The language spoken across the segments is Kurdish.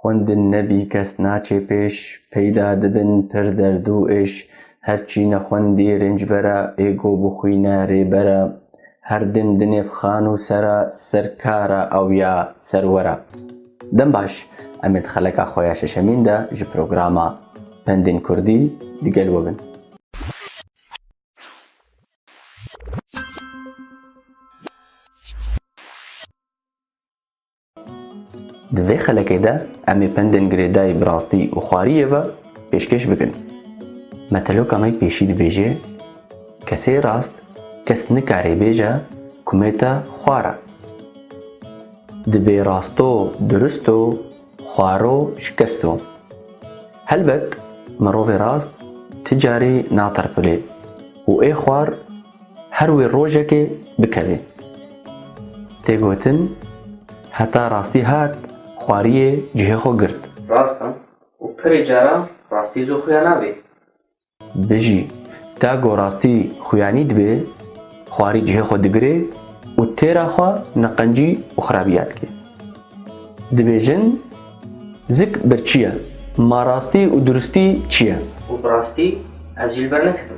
Xwendin nebî kes naçê pêş, peyda dibin pir derd û êş, her çî nexwendî rêncbera, ê go bixwîne rêbera, her dêm di nêv xan û sera, ser kara ew ya serwera. Dem baş, em ê di xeleka xwe ya şeşemîn de ji programa Pendên Kurdî di gel we bin. Di vê xelekê de em ê pendên girêdayî bi rastî û xwariyê ve pêşkêş bikin. Meteloka me pêşî dibêje, Kesê rast kes nikarê bêje ku me te xwar e. Divê rasto durist o, xwaro şikest o. Helbet mirovê rast ti carî natirpilê û ê xwar Her wê rojekê bikevê. Tê gotin, heta rastî hat, xwariyê cihê xwe girt. Rast e û pirê caran rastî zû xuya nabê. Bijî, ta ku rastî xuyanî dibe, xwarî cihê xwe digire û têra xwe neqencî û xerabîya dike. Dibêjin, Zik birçî ye, ma rastî û duristî çi ye? Û bi rastî ez jî li ber neketim.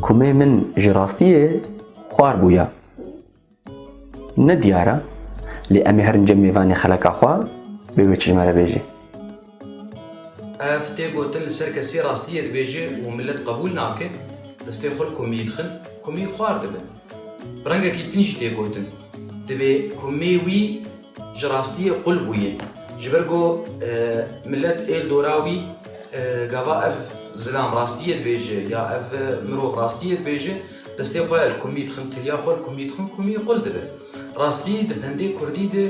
Komê min ji rastiyê xwar bûye. Ne diyar e, lê em ê herin cem mêvanê xeleka xwe bê wê çilmere bêjê. Ev tê gotin li ser kesî rastiyê dibêje û milet qebûl nake, destê xwe li komiyê dixin, komiyê xwar dibin. Bi rengekî din jî tê gotin, Divê komê wî. Ji rastiyê qul bûye. Ji ber ku milet ê li dora wî gava ev zilam rastiyê dibêje ya ev mirov rastiyê dibêje, destê xwe li kumî dixin, tiriya xwe li kumî dixin, kumî qul dibe. Rastî di pendê kurdî de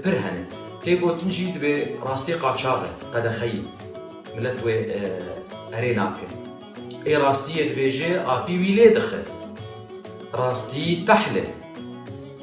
pir hene. Tê gotin jî dibê rastî qaçax e, qedexeyî. Milet wê erê nake. Ê rastiyê dibêje, apî wî lê dixe. Rastî tehl e.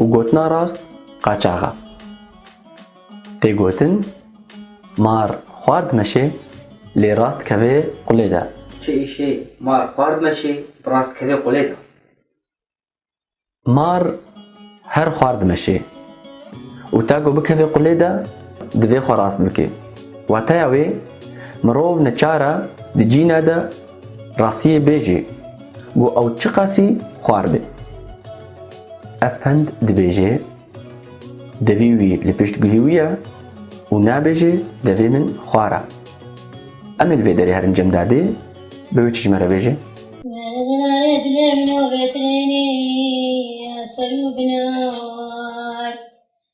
û gotina rast qaçax e. Tê gotin, Mar xward meşê lê rast kevê qulê de. Çi îşê mar xward meşê bi rast kevê qulê de? Mar her xward meşê û ta ku bikevê qulê de divê xwe rast bike. Wateya wê mirov neçar e di cîna de rastiyê bêjê ku ew çiqasî xwar be. Ev pend dibêje devî wî li pişt guhî wî ye û nabêje devê min xwar e. Em ê li vê derê herin cem dadê bi wê çi ji me re bêje?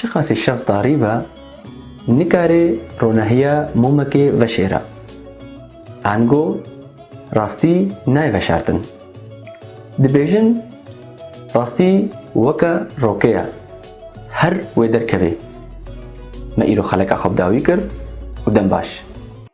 Çiqasî şev tarî be, nikarê ronehiya momekê veşêre. Ango rastî nayê veşartin. Dibêjin rastî weke roke ye, her wê derkevê. Me îro xeleka xwe bi dawî kir û dem baş.